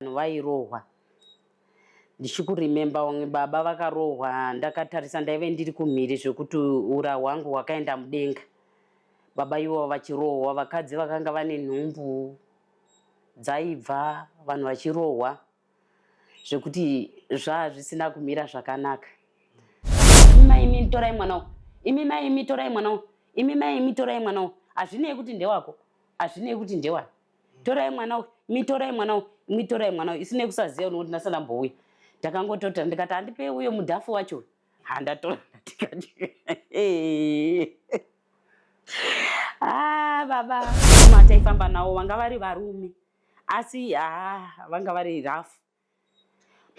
vanhu vairohwa ndichikurememba vamwe baba vakarohwa ndakatarisa ndaive ndiri kumhiri zvekuti ura hwangu hwakaenda mudenga baba ivo vachirohwa vakadzi vakanga vane nhumbu dzaibva vanhu vachirohwa zvekuti zvaa zvisina kumira zvakanaka imi mai imi torai mwana wo imi mai imi torai mwana wo imi mai imi torai mwana wo hazvinei kuti ndewako hazvinei kuti ndewani torai mwana uyu mitorai mwana uyu mitorai mwana uyu isine kusaziva unokuti ndasana mbouya ndakangototora ndikati handipei uyo mudhafu wacho uyu handatora ndikati ah, baba mataifamba nawo vanga vari varume asi ah, vanga vari rafu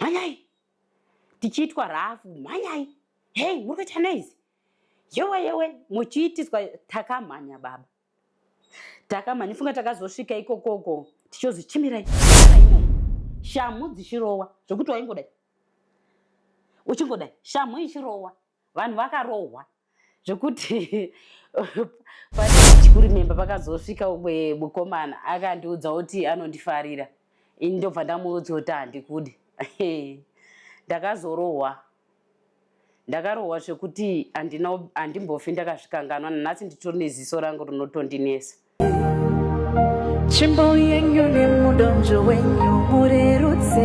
mhanyai tichiitwa rafu mhanyai hei muri kuita noizi yewe yewe muchiitiswa takamhanya baba Takama nifunga takazosvika ikokoko tichozi chimirai shamhu dzichirowa zvekuti waingodai uchingodai shamhu ichirowa vanhu vakarohwa zvekuti pachikurimemba pakazosvika umwe mukomana akandiudza kuti anondifarira ini ndobva ndamuudza kuti handikude ndakazorohwa Ndakarohwa zvekuti handimbofi ndakazvikanganwa nanhasi nditori neziso rangu rinotondinesa. Chimbo yenyu nemudonzvo wenyu murerutse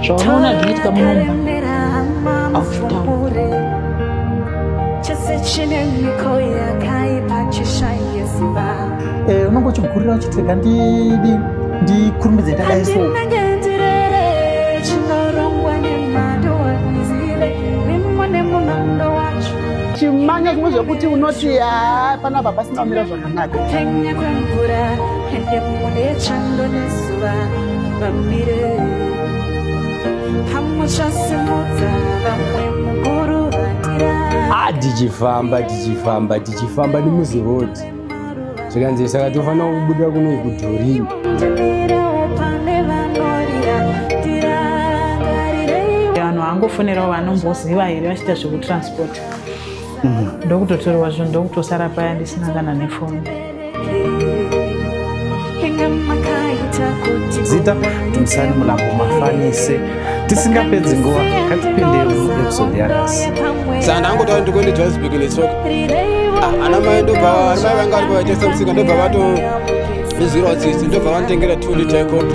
zvaonoona zvinoitika munomba aufutaure chese chine mhiko yakaipa chishaye simba Eh, unongo chigurira uchitega ndidi ndikurumbidze ndadai so. chimanya zvimwe zvekuti unoti haa panapa pasina kumira zvakanaka kupenya kwemvura ende mune chando nezuva vamire hamuchasimudza vamwe mukuru vatira ah, tichifamba tichifamba tichifamba nemuzirodi zvikanzi saka tofanira kubuda kuno kudhorini vanhu vangofonerawo vanomboziva here vachiita zvekutransport mhm. ndokutotorwa zvinhu ndokutosara paya ndisina kana nefoni zita timusani mulambo mafanise tisingapedzi nguva katipinderi muepisode yanasi saka ndangotaura ndikuende johannesburg netsoka ah, ana mai ndobva ana mai vanga vari pavaitesa musika ndobva vato izwirawo tsitsi ndobva vanditengera two liter copi